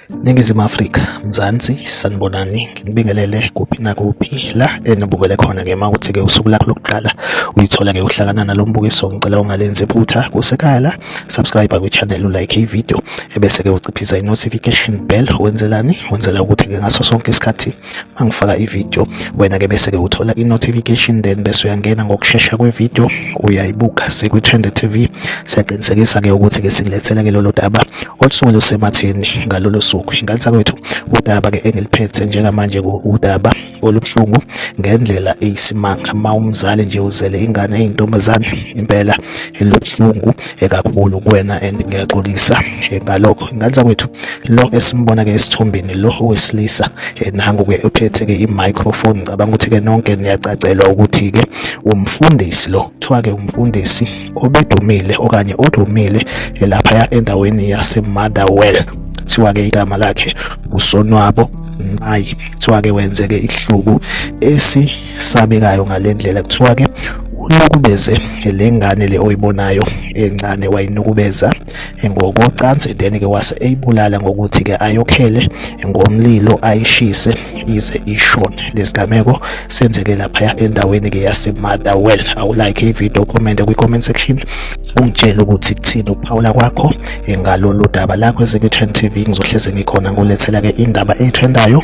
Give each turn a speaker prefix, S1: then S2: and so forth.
S1: Ningizimu Afrika, Mzansi, sanibonani, nginibingelele kuphi nakuphi la enibukele khona ke uma ukuthi ke usuku lakho lokuqala uyithola ke uhlangana nalombukiso ngicela ungalenzi iphutha kusekhaya la subscribe kwi channel like i video ebese ke uciphisa i notification bell wenzelani wenzela ukuthi ke ngaso sonke isikhathi mangifaka ivideo wena ke bese ke uthola i-notification then bese uyangena ngokushesha kwevideo uyayibuka sikwi-trend tv siyaqinisekisa ke ukuthi ke sikulethela ke lolo daba olusuke lusematheni ngalolo suku ingane sakwethu udaba ke engiliphethe njengamanje udaba olubuhlungu ngendlela eyisimanga uma umzali nje uzele ingane eyintombazane impela elubuhlungu ekakhulu kuwena and ngiyaxolisa eh, ngalokho ingane zakwethu lo esimbona ke esithombeni lo wesilisa eh, nangu ke uphethe ke i-microphone ngicabanga ukuthi ke nonke niyacacelwa ukuthi ke umfundisi lo kuthiwa ke umfundisi obedumile okanye odumile eh, laphaya endaweni yasemotherwell kuthiwa ke igama lakhe usonwabo nqayi kuthiwa ke wenzeke ihluku esi sabekayo ngalendlela kuthiwa ke unukubeze le ngane le oyibonayo encane wayinukubeza ngokocansi then ke wase eyibulala ngokuthi ke ayokhele ngomlilo ayishise ize ishone lesigameko senzeke lapha endaweni ke yasemada well awu like ivideo comment kwi comment section ungitshela ukuthi kuthini ukuphawula kwakho ngalolu daba lakho ezikwi-trend tv ngizohleze ngikhona ngolethela ke indaba eyitrendayo